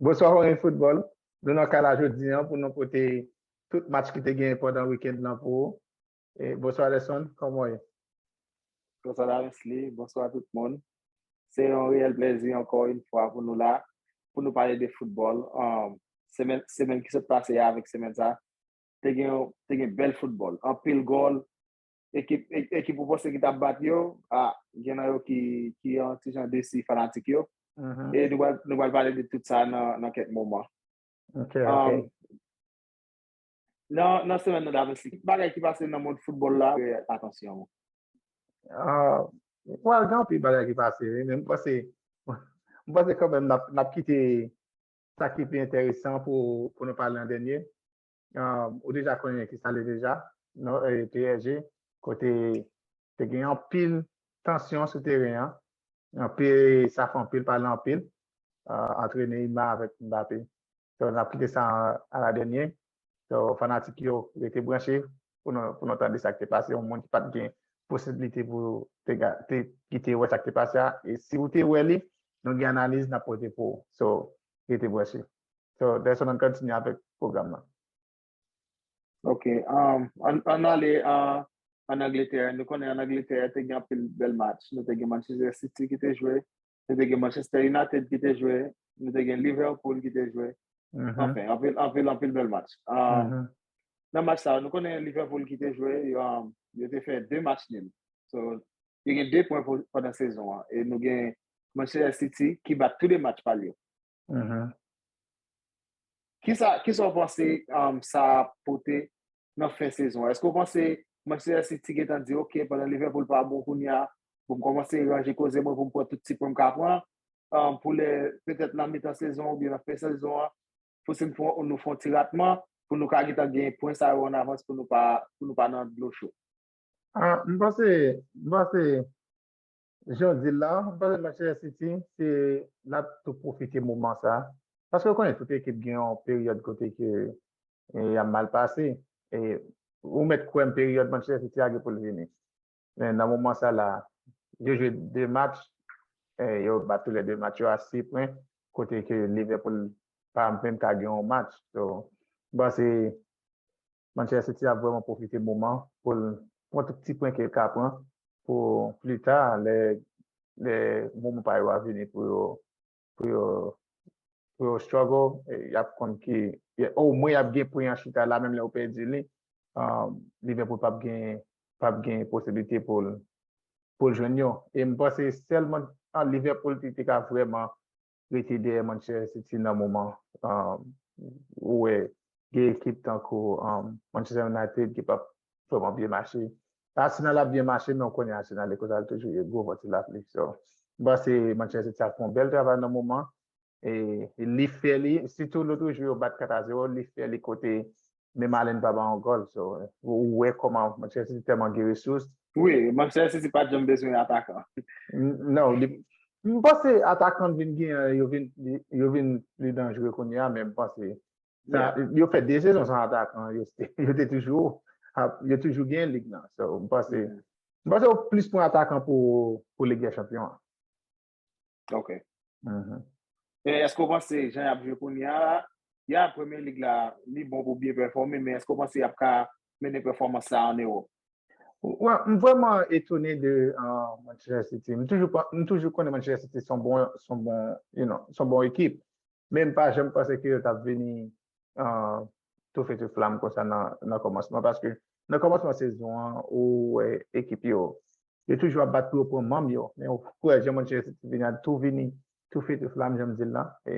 Bonswa Horen Football, nou nan kay la jodi an pou nou pote tout match ki te genyen pandan weekend lan pou ou. Bonswa Lerson, kòman w ye? Bonswa Daresly, bonswa tout moun. Se yon reyèl plezi ankò yon fwa pou nou la, pou nou pale de football. Semèn ki sot pase a avèk semèn sa a, te gen bèl football, anpil gòl, Ekip, ekip ou panse ki tap bat yo, a, gen nan yo ki, ki yon ti jan desi fanatik yo. E nou pral, nou pral pale de tout sa nan, nan kèk moman. Ok, ok. Nan, nan semèn nan daprè, ki bagay ki pase nan mond foutbòl la, atansyon ou? Well, gen anpil bagay ki pase wi, men m panse, m panse kanmèm nap, nap kite sa ki pi enteresan pou, pou nou pale an dènye. ou deja konnen ki sa li deja, non, PSG, kote te gen yon pil tansyon sou teren an, yon pil sa fon pil pa lan pil, antre Neymar avèk Mbappé. So, nap kite sa a la dènye. So, fanatik yo, rete branche pou nou tande sa ki te pase, yon moun ki pat gen posibilite pou te kite wè sa ki te pase a, e si ou te wè li, nou gen analiz nap pote pou ou. So, rete branche. So Dayson ann kontinye avèk pwogram nan. Ok, ann ale an Angletè. Nou konnen an Angletè te gen anpil bèl match. Nou te gen Manchester City ki te jwe, nou te gen Manchester United ki te jwe, nou te gen Liverpool ki te jwe. Anfen, anpil, anpil, anpil bèl match. Nan match sa yo, nou konnen Liverpool ki te jwe, yo te fè 2 match nil. So, yo gen 2 pwen pandan sezon an. E nou gen Manchester City ki bat tou 2 match pa l yo. Kisa w panse sa ap pote nan fen sezon an? Èske w panse Manchester City gentan di ok pandan Liverpool pa bon kounye a pou m kòmanse ranje koze mwen pou m pran tout ti pwen m ka pran pou lè petèt nan mitan sezon oubyen nan fen sezon an pou si nou fè yon ti ratman pou nou ka gentan gen pwen sa yo an avans pou nou pa nan dlo cho? M panse Jan w di l la, m panse Manchester City se l ap tou pwofite moman sa. Paske ou konnen tout ekip gen yon peryòd kote ke y ap mal pase. E ou mèt kwè m peryòd Manchester City a gen pou l vini. Men nan moman sa la, yo jwe 2 match, yo bat tou lè 2 match yo a 6 pwen, kote ke Liverpool pa menm ka gen yon match. So, m panse Manchester City ap vrèman pwofite moman pou l pran tout ti pwen ke l ka pran pou plita lè moman pa yo a vini pou yo pou yo pou yo struggle y ap konn ki omwen y ap gen pwen an chita la menm lè yo pèdi li Liverpool p ap gen p ap gen posiblite pou l pou l jwenn yo e m panse sèlman Liverpool ki te ka vrèman rete dèyè Manchester City nan moman ou wè gen ekip tankou Manchester United ki pap vreman byen mache. Arsenal ap byen mache men ou konnen Arsenal e kosa l toujou ye gwo van ti lapli. So, m panse Manchester City ap fè yon bèl travay nan moman e li fè li sitou lotrejou yo bat 4 a 0 li fè li kote Men Marlene pa ban yon gòl so ou wè kòman Manchester City tèlman gen resous. Wi, Manchester City pat janm bezwen atakan. Non, m panse atakan vin gen an yo vin yo vin pli danjre kounye a men m panse sa yo fè 2 sezon san atakan yo te toujou ap yo toujou gen lig nan so m panse m panse yo plis pran atakan pou lig dè chanpyon an. Ok. E eske ou panse jan y ap jwe kounye a, ya Premier League la li bon pou byen pèfòme men eske ou panse y ap ka mennen pèfòmans sa an Ewòp? M vrèman etone de Manchester City. M toujou konnen Manchester City s on bon ekip men m pa janm panse ke yo t ap vini tou fe tou flam konsa nan kòmansman paske nan kòmansman sezon an ou wè ekip yo Yo toujou ap bat pou yo pran manm yo men ou kwè jan mouche se ti vinad tou vini tou fe tou flam janm dil la e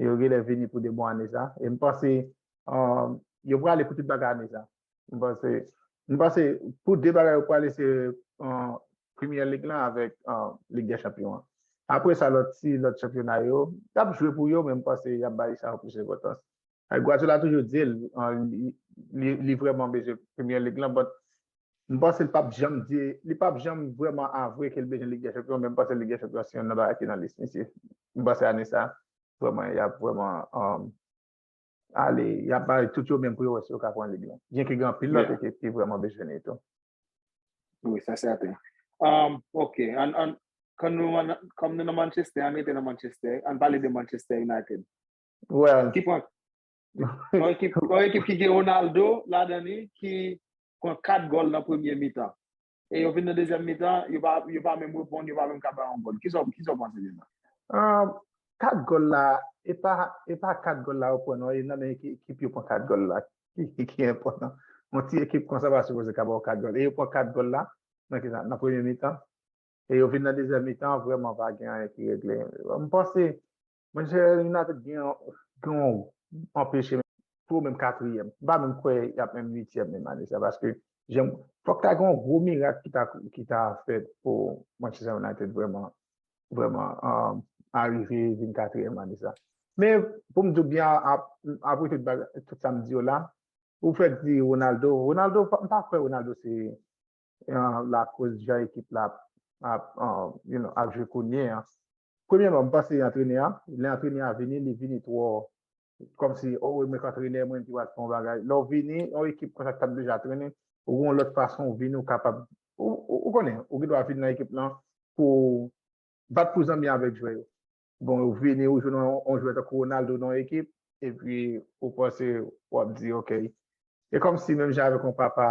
yo genlè vini pou de bon ane sa e m panse yo prale pou tout bagay ane sa m panse m panse pou de bagay yo prale se premye lig lan avek lig de chanpyon an apre sa lot ti lot chanpyona yo tap jwe pou yo men m panse yap bay sa plis enpotans Guardiola toujou dil li vreman bezwen premye lig lan but M panse l pap janm di, li pap janm vrèman avwe ke l bezwen Lig dè Chanpyon, men m panse Lig dè Chanpyon se yonn nan bagay ki nan lis misye. M panse ane sa, vrèman, y ap vrèman ale, y ap bay tout yo menm pou yo wè si yo ka pran lig lan. Byenke gen anpil lòt ekip ki vrèman bezwen li tou. Wi, sa sèten. Ok, ann, kòm nou nan Manchester, ann rete nan Manchester, ann pale de Manchester United. Well. Yon ekip ki gen Ronaldo la dan li ki pran 4 gòl nan premye mitan. E yo vin nan dezyèm mitan, yo pa menm reponn, yo pa menm ka bay yon gòl. Kisa w panse de sa? 4 gòl la, e pa 4 gòl la yo pran non, e nan men ki ekip yo pran 4 gòl la ki enpòtan. Yon ti ekip konsa pa sipoze ka ba w 4 gòl. E yo pran 4 gòl la nan ki sa? Nan premye mitan. E yo vin nan dezyèm mitan, vrèman pa gen anyen ki regle. M panse Mwen se United gen yon anpeche pou menm katriyèm. M pa menm kwè y ap menm uityèm menm ane sa paske jan fòk ta gen yon gwo mirak ki ta fèt pou Manchester United vrèman vrèman arive vin katriyèm ane sa. Men pou m di w byen apre tout bagay tout sa m di yo la ou fèk di Ronaldo, Ronaldo m pa kwè Ronaldo se lakoz jan ekip la ap jwe kounye a. Premyèman, m panse antrenè a, lè antrenè a vini, li vini twò kòmsi o e mwen k antrenè, mwen menm ki pral fè yon bagay. Lè w vini, yon ekip konsa ki t ap deja trennen, ou gen yon lòt fason w vini, ou kapab, ou konnen, ou gendwa vin nan ekip lan pou w bat pou zanmi avèk jwè yo. Bon, ou vini, ou jwenn yon jwè tankou Ronaldo nan yon ekip, epi ou panse, w ap di ok. Se kòmsi menm jan avèk yon papa,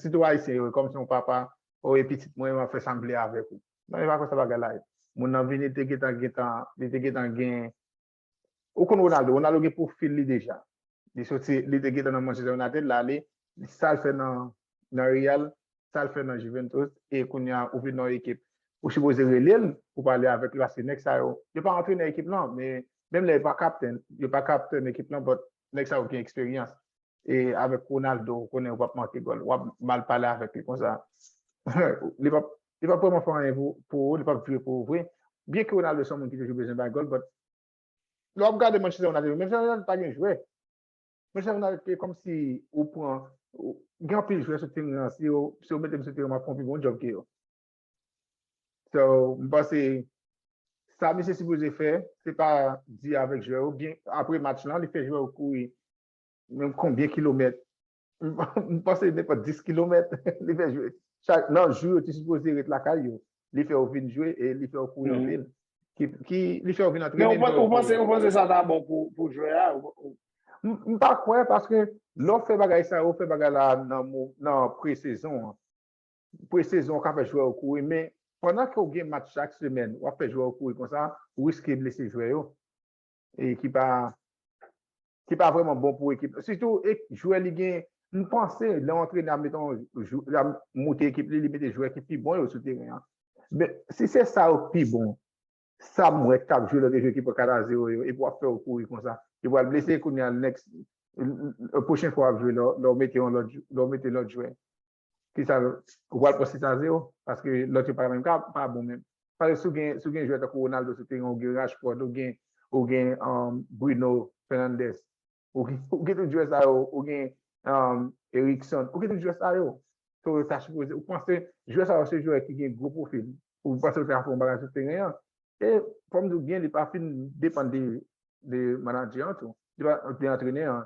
sitou Ayisyen yo, kòmsi yon papa, o e pitit mwen, m ap fè sa m vle avèk ou. Non epa konsa bagay la ye. Moun nan vini te gentan gentan li te gentan gen ou konn Ronaldo, Ronaldo gen profil li deja. Li soti li te gentan nan Manchester United la ale sal fè nan nan Real, sal fè nan Juventus e kounya ou vin nan yon ekip ou sipoze relel pou pale avèk li paske nèg sa yo yo pa antrenè ekip lan men menm lè yo pa kaptèn yo pa kaptèn ekip lan but nèg sa yo gen eksperyans E avèk Ronaldo ou konnen ou pap manke gòl. Wap mal pale avèk li konsa. Li pap li pap vreman fè anyen pou ou, li pap jwe pou ou vre. Byen ke Ronaldo se yon moun ki toujou bezwen bay gòl but lè wap gade match Manchester United, Manchester United pa gen jwè. Manchester United se kòmsi ou pran gen anpil jwè sou teren an, si yo mete m sou teren map fè yon pi bon job ke yo. So, m panse sa misye sipoze fè, se pa di avèk jwè yo, byen apre match lan li fè jwè yo kouri Menm konbyen kilomèt? M panse nenpòt 10 kilomèt li fè jwe. Nan jou yo te sipoze ret lakay yo, li fè yo vin jwe e li fè yo kouri anpil. Li fè yo vin antrene. Men ou panse sa ta bon pou jwè a? M pa kwè paske lè w fè bagay sa yo, fè bagay la nan pre-sezon an. Pre-sezon ou ka fè jwè yo kouri men pandan ke w gen match chak semèn, w ap fè jwè yo kouri konsa, ou riske blese jwè yo. e ki pa ki pa vreman bon pou ekip la sitou jwè li gen m panse lè yon antrenè ap mete yon ap moute ekip li li mete jwè ki pi bon yo sou teren an men si se sa yo ki pi bon sa m wè k ap jwe lòt ekip ki pran 4 a 0 yo epi w ap fè yo kouri konsa yo pral blese kounye a next pwochen fwa w ap jwe lè w mete yon lòt lè w mete lòt jwè Kisa ou pral pran six a zero paske lòt yo pa menm ka pa bon menm paske si ou gen jwè tankou Ronaldo sou teren ou gen Rashford ou gen ou gen Bruno Fernandes ou gen tout jwè sa yo ou gen Erickson ou gen tout jwè sa yo so yo ta sipoze ou panse jwè sa yo se jwè ki gen gwo pwofil ou panse yo ta ka fè yon bagay sou teren an e fò m di w byen li pa fin depann de manadjè an tou de antrenè an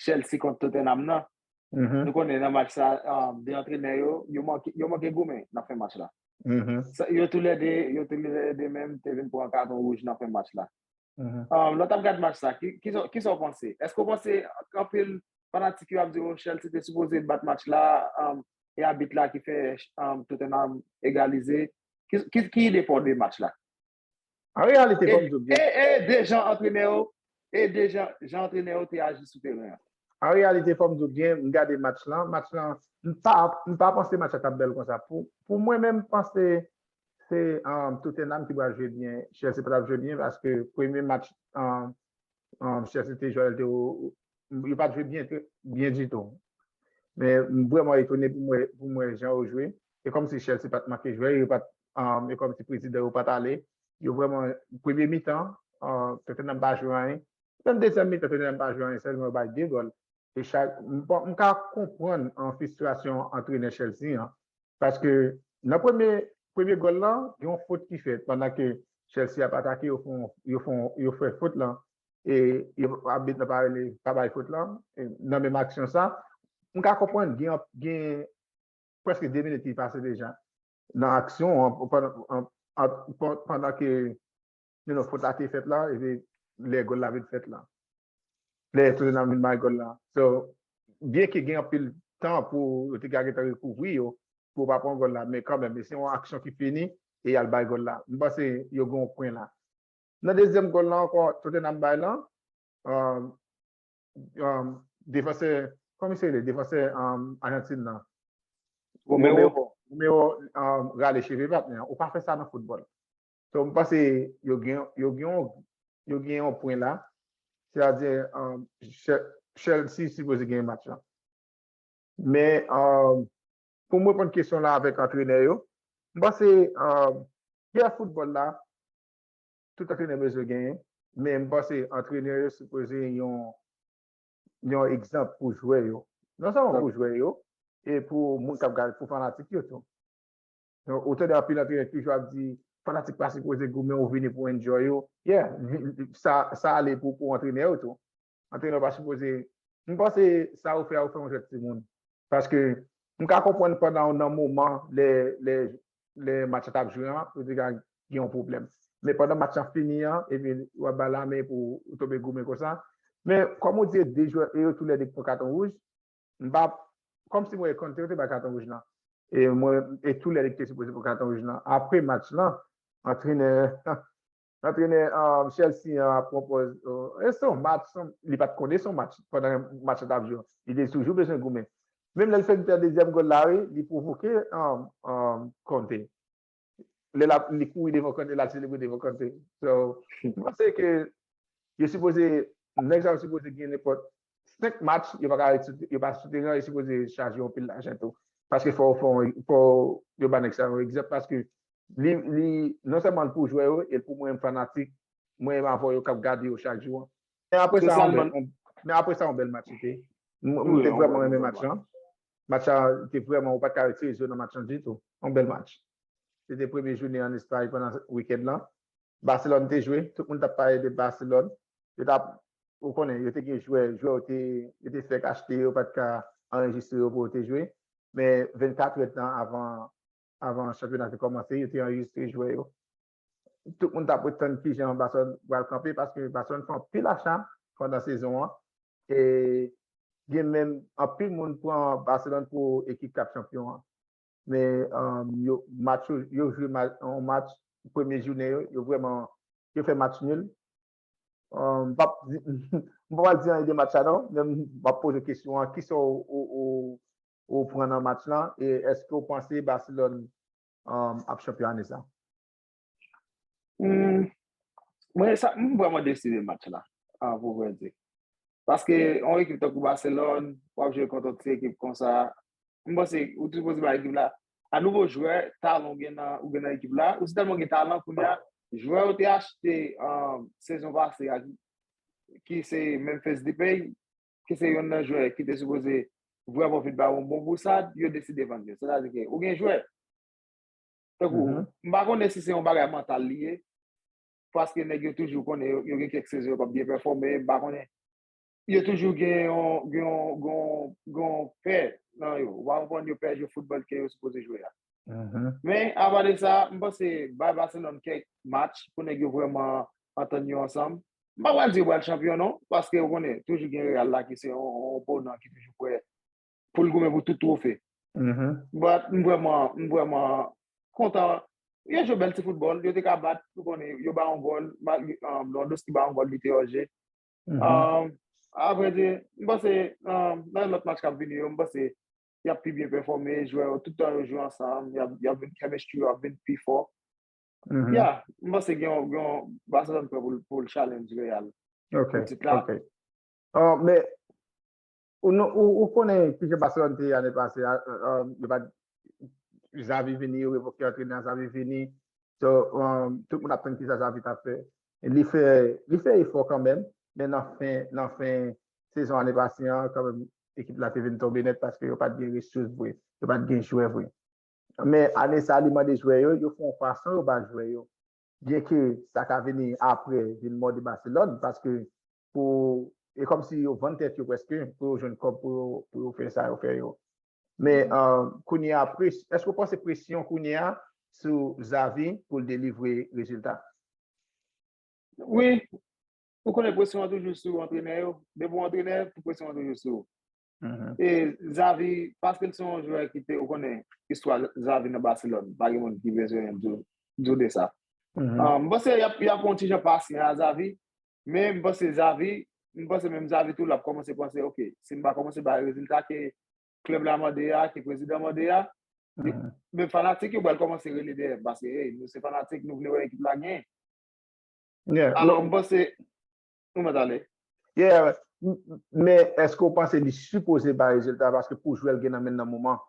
Chelsea kont Tottenham nan. Nou konnen nan match sa, 2 antrenè yo, yo manke goumen nan fen match la. Yo tou lè 2, yo tou lè 2 menm te vin pran katon wouj nan fen match la. Lè w t ap gad match sa, ki sa w panse? Èske w panse anpil fanatik yo ap di w Chelsea te sipoze bat match la e abit la ki fè Tottenham egalize? Ki ide pa w de match la? An reyalite, kòm Job di. E de jan antrenè yo, e de jan antrenè yo te aji sou teren an. An reyalite, kòm Job di, m gade match lan, match lan, m pa panse match la t ap bèl konsa. Pou mwen menm, m panse se Tottenham ki pral jwe byen. Chelsea pa t ap jwe byen paske premye match. Chèf se te jwèl te ou Yo pat jwe byen byen ditou Men m vrèman etone pou m wè jan yo jwe E kòmsi Chelsea pat manke jwè yo pat E kòmsi prezidan yo pat ale Yo vrèman Premye mitan Tottenham pa jwe anyen Menm dezyèm mitan Tottenham pa jwe anyen Sèlman yo bay 2 gòl E chak M ka konprann Fistrasyon antrenè Chelsea an Paske nan premye premye gòl lan gen yon fot ki fèt pandan ke Chelsea ap atake yo fon yo fon yo fè fot lan e yo abit nan pa rele pa bay fot lan nan menm aksyon sa m ka konprann gen yon gen prèske 2 minit ki pase deja nan aksyon an pandan ke You know, fot la te fèt la, epi lè gòl la vin fèt la. Lè Tottenham vin bay gòl la. So, byen ke gen anpil tan pou yo te ka gen tan rekouvri yo, pou yo pa pran gòl la, men kanmenm, e se yon aksyon ki fini, e y al bay gòl la. M panse yo gen yon pwen la. Nan dezyèm gòl la ankò Tottenham bay la, defansè, kòman misye rele? Defansè Ajantin nan. Romero. Romero rale cheve patnè an. Ou pa fè sa nan foutbòl. So m panse yo gen yo gen yon yo gen yon pwen la. Se ta di Chelsea sipoze genyen match la. Men pou m reponn kesyon la avèk antrenè yo, m panse kè foutbòl la tout antrenè bezwen genyen, men m panse antrenè yo sipoze yon yon egzanp pou jwè yo. Non sèlman pou jwè yo e pou moun k ap gade, pou fanatik yo tou. Donk ou tande anpil antrenè ki toujou ap di fanatik pa sipoze goumen ou vini pou enjoy ou. Yeah, sa ale pou antrenè yo tou. Antrenè pa sipoze, m panse sa ou fè a ou fè yon jwèt timoun. Paske m ka konprann pandan ou nan moman lè match la tap jwe an ou te ka gen yon pwoblèm. Men pandan match lan fini an epi ou ap ba lamen pou ou tonbe goumen konsa. Men kòm ou di e 2 jwè e yo tou lè 2 ki pran katon wouj, M pa Kòm si m wè Conte yo te bay katon wouj lan e mwen e tou lè li te sipoze pran katon wouj lan apre match lan antrenè antrenè Chelsea an ap pwopòz e se yon match li pat konnen se yon match pandan match lan tap jwe li te toujou bezwen goumen menm lè l fè dezyèm gòl la wi li pwovoke Conte. Lè lap li kouri devan kòn yo lap selebre devan kòn se so m panse ke yo sipoze nèg sa yo sipoze gen nenpòt 5 match yo paka ret yo pa sou teren an yo sipoze chaje yon pil lajan tou paske fò fò yo ba nèg sa yo egzanp paske li li non sèlman l pou jwè yo e l pou mwen menm fanatik mwen menm avè w yo kap gade yo chak jou an men apresa yon bèl match li te m te vrèman renmen match lan Match sa te vrèman ou pat ka retire zye w nan match lan ditou. Yon bèl match. Se te premye jounen an Espay pandan wikend lan. Baselòn te jwe, tout moun t ap pale de Baselòn. Yo t ap, ou konnen, yo te gen jwè, jwè yo te, yo te fèk achte yo pat ka anrejistre yo pou yo te jwe. Men 24 èdtan avan, avan chanpyona te kòmanse, yo te anrejistre jwè yo. tout moun tap ret tann kijan Barcelone pral kanpe paske Barcelone fè anpil acha pandan sezon an e gen menm anpil moun pran Barcelone pou ekip kap chanpyon an men yo match yo yo jwe yon match premye jounen yo yo vrèman yo fè match nul m pap di m pa pral di anyen de match la non men map poze kesyon an kisa ou ou pran nan match lan e èske ou panse Barcelone ap chanpyon ane sa? Mwen sa, m vreman desi de match la, pou vrè di. Paske, yon ekip tankou Barcelone, wap jwe kont yon ti ekip konsa, m panse, ou te sipoze bay ekip la, a nouvo jwè, talan ou gen nan, ou gen nan ekip la, ou te tèlman gen talan kounye a, jwè ou te achte sezon pase a, ki se Memphis Depay, ki se yonn nan jwè ki te sipoze vrèman vin ba yon bon bousad, yo deside vann yo. Sètadi ke ou gen jwè, tankou, m pa konnen si se yon bagay mantal li ye, paske nèg yo toujou konnen yo gen kèk sezon yo pa p byen pèfòme, m pa konnen, yo toujou gen yon, gen yon, gen yon, gen yon pè nan yo, ou pa konprann, yo pè jwe foutbòl ke yo sipoze jwe a. Men, apa de sa, m panse bay Baselòn kèk match pou nèg yo vrèman antann yo ansanm, M pa pral di yo pral chanpyon non, paske ou konnen, toujou gen Real la ki se yon oponan ki toujou prè pou l goumen pou tout twofe. But, m vrèman, m vrèman kontan. Yo jwe bèl ti foutbòl, yo te ka bat, ou konnen, yo bay yon gòl, Lewandowski bay yon gòl li te òje. Avrèdi, m panse nan lòt match k ap vini yo, m panse y ap pi byen pèfòme, jwè yo, tout tan yo jwe ansanm, y ap vin, chemistry yo ap vin pi fò. Ya, m panse gen yon Barcelona pwè pou l challenge Real. Ok, ok. Mè, ou konnen ki jè Barcelona te yane pase, yo bat Xavi vini, yo revoke yon trener Xavi vini, so, tout moun ap tann ki sa Xavi ta fè. Li fè, li fè efò kan mèm, mè nan fen, nan fen sezon ane pase an, kan mèm ekip la te vin tonbe nèt paske yo pat gen resous vre, yo pat gen jwè vre. Men ane sa li mande jwè yo, yo fè yon fason yo ba jwè yo. Byenke sa ka vini apre vin mòde Baselòn paske pou e kòmsi yo vann tèt yo prèske pou yo jwenn kòb pou yo fè sa yo fè yo. Men kounye a èske ou panse presyon kounye a sou Xavi pou l delivre rezilta? Wi, ou konnen presyon an toujou sou antrenè yo. Depi w antrenè, presyon an toujou sou ou. E Xavi, paske l se yon jwè ki te, ou konnen, istwa Xavi nan Baselòn, pa gen moun ki bezwen di w de sa. M panse y ap yon ti jan pasyan a Xavi, men m panse Xavi, m panse menm Xavi tou l ap kòmanse panse, ok, si m pa kòmanse bay rezilta ke klèb la mande a, ke prezidan mande a, men fanatik yo pral kòmanse rele dèyè m, paske, ey, nou se fanatik, nou vle wè ekip la genyen. Alò, m panse, Mwen pat ale. Yeah, men eske w panse li sipoze bay rezilta paske pou jwè l gen nan men l nan moman an?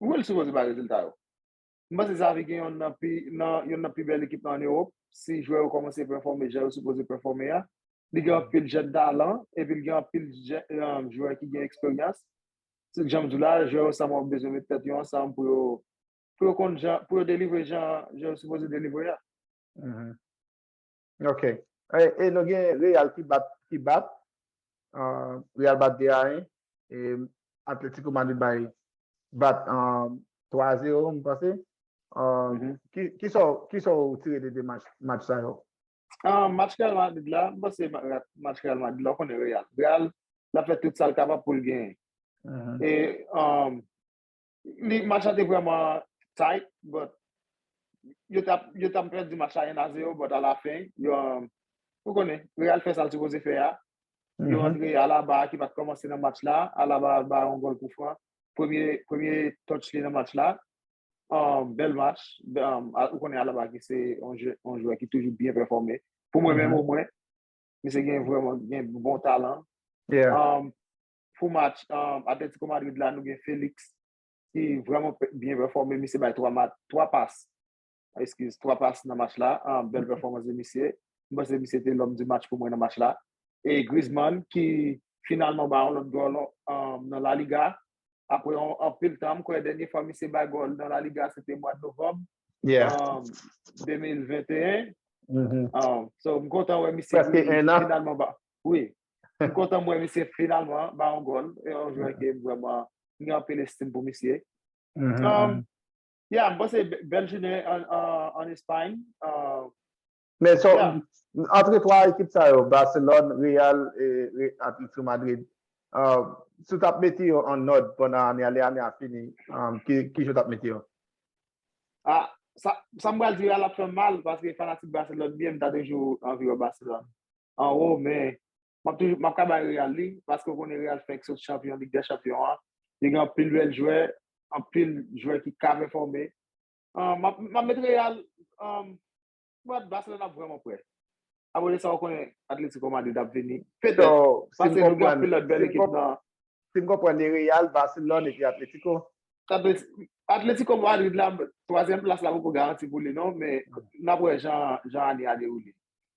Wi l sipoze bay rezilta yo. M panse Xavi gen yonn nan pi nan yonn nan pi bèl ekip nan an Ewop. Si jwè yo kòmanse pèfòme jan yo sipoze pèfòme a, li gen anpil jèn talan epi l gen anpil jèn jwè ki gen eksperyans. Jan m di w la, jwè yo sa mòf bezwen met tèt yo ansanm pou yo pou yo konn jan pou yo delivre jan yo sipoze delivre a. Ok e nou gen real ki bat ki bat real bat 2 a 1 e atletico madrid bay bat 3 a 0 m panse kisa ou tire de 2 match sa yo match real madrid la m panse match real madrid la ou konnen real real la fè tout sal kapab poul genyen e Li match la te vrèman tight but yo tap yo tap pèdi match la 1 a 0 but a la fin yo ou konnen Real fè sa l sipoze fè a yo rantre Alaba ki pat kòmanse nan match la Alaba bay yon gòl kou fran premye premye touch li nan match la bèl match ou konnen Alaba ki se yon jwè ki toujou byen pèfòme pou mwen menm o mwen misye gen vrèman gen bon talan. Pou match Atletico Madrid la nou gen Felix ki vreman byen pèfòme, misye bay 3 mat, 3 pas, eskiz, 3 pas nan match la, bèl pèfòmans de misye, m panse misye te lòm di match pou mwen nan match la, e Griezmann ki finalman bay yon lòt gòl nan La Liga, apre yon anpil tan, m kwè dènye fwa misye bay gòl nan La Liga se te mwad Novanm, 2021, so m kontan wè misye ki finalman ba, wi, M kontan m wè misye finalman ba yon gòl. E yon jwè ke m vrèman m gen anpil estim pou misye. Ya, m panse bèl jounen an Espay. Men sa w, antre 3 ekip sa yo, Barcelòn, Real e Atlético Madrid, si w t ap mete yo an òd pandan ane a, lè ane a fini, kijan w t ap mete yo? A, sa m pral di yo a l ap fè m mal paske fanatik Barcelòn m ye, m ta toujou anvi wè Barcelòn. anwo men map toujou map ka bay Real li paske ou konnen Real fenk sot chanpyon Lig dè Chanpyon an li gen anpil bèl jwè anpil jwè ki ka pèfòme map map met Real mwen Barcelone ap vrèman prè apre de sa ou konnen Atletico Madrid ap vini petèt paske nou gen anpil lòt bèl ekip nan si m konprann li Real, Barcelone epi Atletico. Atletico Madrid la twazyèm plas la poko garanti pou li non men nap wè jan jan ane a dewoule.